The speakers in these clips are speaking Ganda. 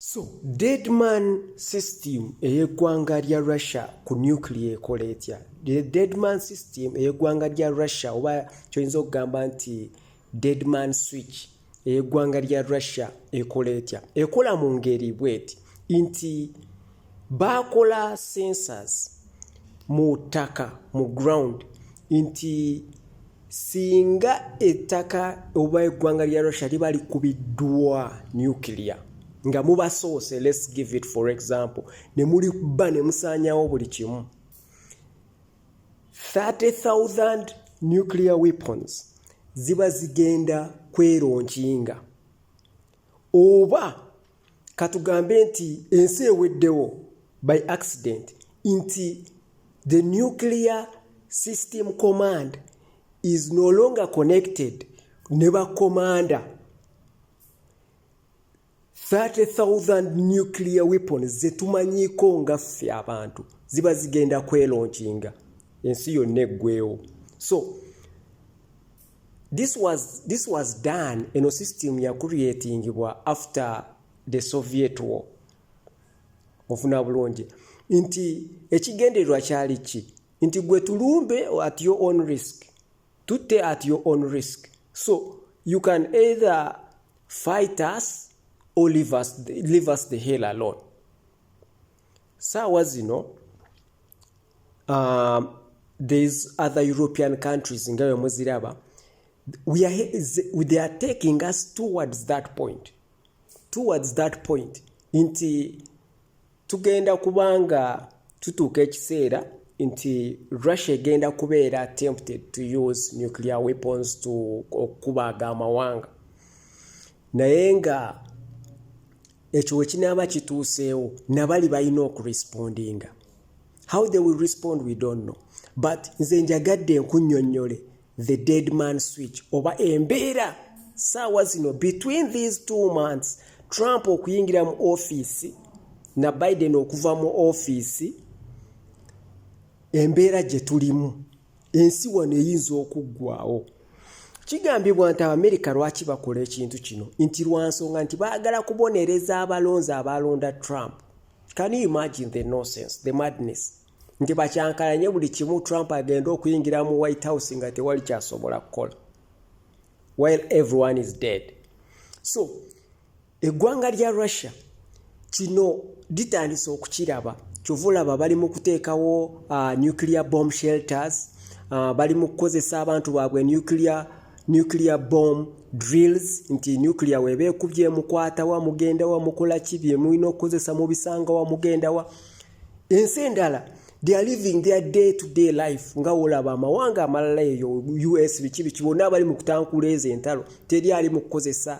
So deadman system ey'eggwanga lya Russia ku nuclear ekola etya? The deadman system ey'eggwanga lya Russia oba kyoyinza okugamba nti deadman switch ey'eggwanga lya Russia ekola etya? Ekola mu ngeri bweti nti baakola sensors mu ttaka mu ground nti singa ettaka oba eggwanga lya russia liba likubiddwa nuclear nga mubasoose let's give it for example ne muliba ne musaanyawo buli kimu 30000 nuclear weapons ziba zigenda kweronkinga oba katugambe nti ensi eweddewo by accident nti the nuclear system command is no longer connected ne bakomanda 30,000 nuclear weapons zetumanyiiko nga ffe abantu ziba zigenda kwelonkinga ensi yonna eggwewo so This was, this was done eno system ya creatingibwa after the Soviet war. Ofuna bulungi nti ekigendererwa kyali ki nti gwe tulumbe at your own risk tutte at your own risk so you can either fight us or leave us, leave us the hell alone saawa zino um, these other european countries nga wemuziraba we are, they are taking us towards that point towards that point nti tugenda kubanga tutuuka ekiseera nti russia egenda kubeera attempted to use nuclear weapons to okukubaaga amawanga naye nga ekyo wekinaaba kituuseewo nabali balina okurespondinga how they will respond we don't know but nze njagadde nkunyonyole the dead man switch oba embeera saawa zino between these two months trump okuyingira mu ofiisi na biden okuva mu ofiisi embeera gye tulimu ensi wano eyinza okuggwawo kigambibwa nti abamerika lwaki bakola ekintu kino nti lwansonga nti baagala kubonereza abalonzi abaalonda trump can you imagine the nonsense the madness nti bakyankalanye buli kimu trump agenda okuyingira mu white house nga tewali kyasobola kukola while everyone is dead so Eggwanga lya Russia kino litandise okukiraba kyova olaba bali mu kuteekawo uh, nuclear bomb shelters uh, bali mu kukozesa abantu baabwe nuclear, nuclear bomb drills nti nuclear weeba ekubye emukwatawa mugendawa mukola ki byemulina okukozesa mubisangawa mugendawa ensi endala they are living their day to day life nga wolaba amawanga amalala eyo us biki biki bonna abali mu kutankula ezo entalo teri ali mu kukozesa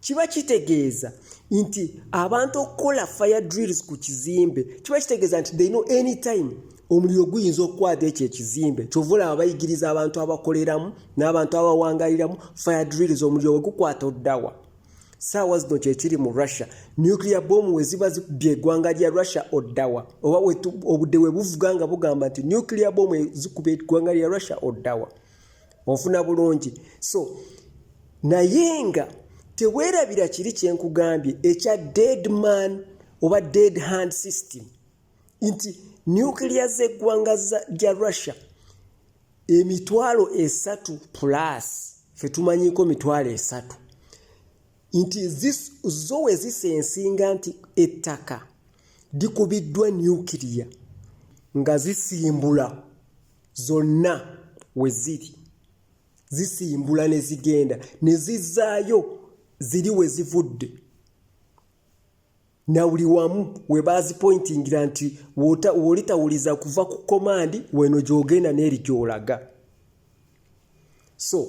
kiba kitegeeza nti abantu okukola fire drills ku kizimbe kiba kitegeeza nti they know any time omuliro guyinza okukwata ekyo ekizimbe kyova olaba bayigiriza abantu abakoleramu n'abantu abawangaliramu fire drills omuliro wegukwata oddawa saawa zino kyekiri mu russia nuclear bomu weziba zikubye egwanga lya russia oddawa oba obudde webuvuga nga bugamba nti nuclear bomu ezikuba egwanga lya russia oddawa ofuna bulungi so naye nga teweerabira kiri kye nkugambye ekya dead man oba dead hand system nti nuclear z'eggwanga lya russia emitwalo esatu plus fe tumanyiko mitwalo esatu nti zo we zisensinga nti ettaka likubiddwa nuclear nga zisimbula zonna we ziri zisimbula ne zigenda ne zizzaayo ziri we zivudde na buli wamu we baazipointingira nti w'olitawuliza kuva ku komandi weno gy'ogenda n'eri gy'olaga so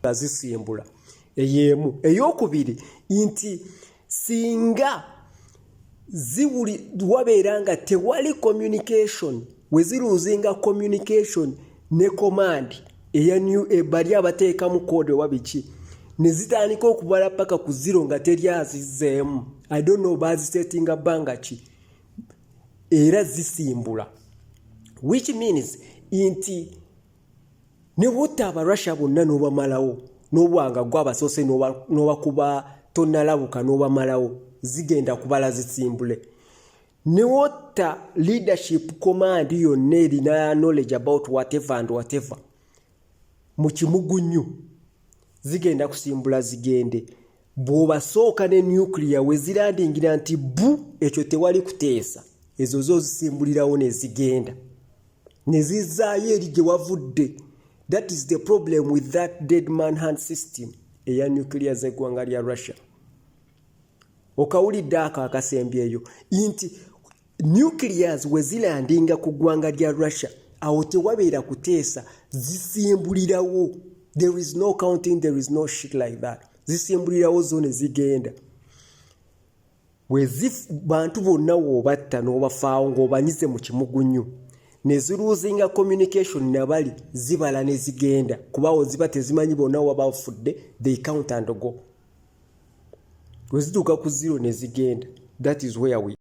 nga zisimbula eyeemu eyokubiri nti singa ziwuli wabeera nga tewali communication weziruuzinga communication ne command eya new e, bali abateekamu code oba biki ne zitandika okubala paka ku ziro nga teri azizzeemu i don't know bazisetinga bbanga ki era zisimbula which means nti ne butta abarussia bonna n'obamalawo n'obwanga gwe abasoose n'obakuba tonnalabuka n'obamalawo zigenda kubala zisimbule ne wotta leadership command yonna erina knowledge about whatever and whatever mu kimugunyu zigenda kusimbula zigende bw'obasooka ne nuclear we zilandingira nti bu ekyo tewali kuteesa ezo zo zisimbulirawo ne zigenda ne zizzaayo eri gye wavudde that is the problem with that dead man hand system eya nuclear z'eggwanga lya russia okawulidde ako akasembyeyo nti nuclears we zilandinga ku ggwanga lya russia awo tewabeera kuteesa zisimbulirawo there is no counting there is no shit like that zisimbulirawo zo ne zigenda wezif bantu bonna woobatta n'obafaawo ng'obanyize mu kimugunyu ne ziruuzinga communication nabali zibala ne zigenda kubawo ziba tezimanyi bonna waba bafudde they count and go wezituuka ku zero ne zigenda that is where we